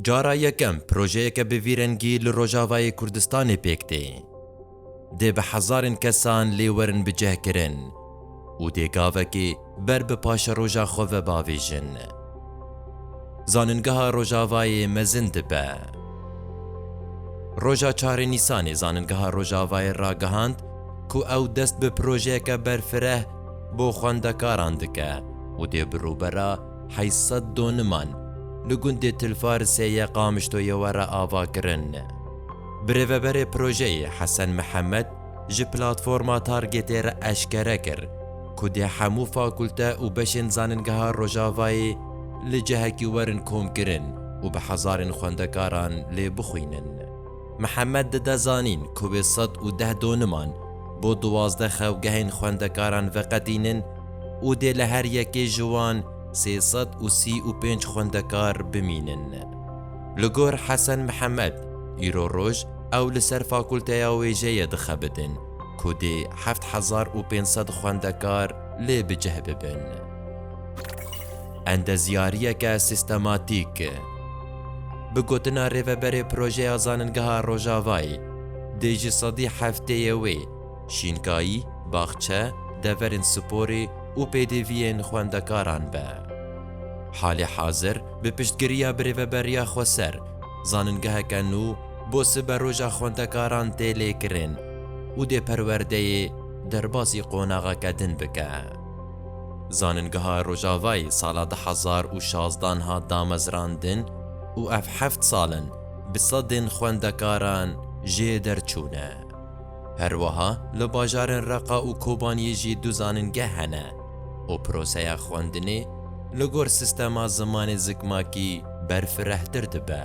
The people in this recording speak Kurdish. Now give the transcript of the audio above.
Cara yekem projeyeke bi vî rengî li Rojavayê Kurdistanê pêk tê. Dê bi hezarên kesan lê werin bicihkirin û dê gavekê ber bi paşeroja xwe ve bavêjin. Zaningeha Rojavayê mezin dibe. Roja çar ê Nîsanê Zaningeha Rojavayê ragihand ku ew dest bi projeyeke berfireh bo xwendekaran dike û dê bi rûbera Heşt sed doniman li gundê Tilfarisê ya Qamişloyê were avakirin. Birêveberê projeyê Hesen Mihemed ji Platforma Targetê re eşkere kir ku dê hemû fakulte û beşên Zaningeha Rojavayê li cihekî werin komkirin û bi hezarên xwendekaran lê bixwînin. Mihemed dide zanîn ku wê sed û deh doniman bo duwazdeh xewgehên xwendekaran veqedînin û dê li her yekê ji wan sê sed û sî û pênc xwendekar bimînin. Li gor Hesen Mihemed, îro roj ew li ser fakulteya wêjeyê dixebitin ku dê heft hezar û pênc sed xwendekar lê bi cih bibin. Endezyariyeke sîstematîk. Bi gotina rêveberê projeya Zaningeha Rojavayê, dê ji sedî hefteyê wê şînkayî, baxçe, deverên sporê û pêdiviyên xwendekaran be. Halê hazir bi piştgiriya bi rêveberiya xweser zaningeheke nû bo siberoja xwendekaran tê lêkirin û dê perwerdeyê derbasî qonaxeke din bike. Zaningeha Rojavayê sala du hezar û şazdan hat damezrandin û ev heft sal in bi sedên xwendekaran jê derçûne. Herweha li bajarên Reqa û Kobaniyê jî du zaningeh hene û proseya xwendinê li gor sîstema zimanê zikmakî berfirehtir dibe.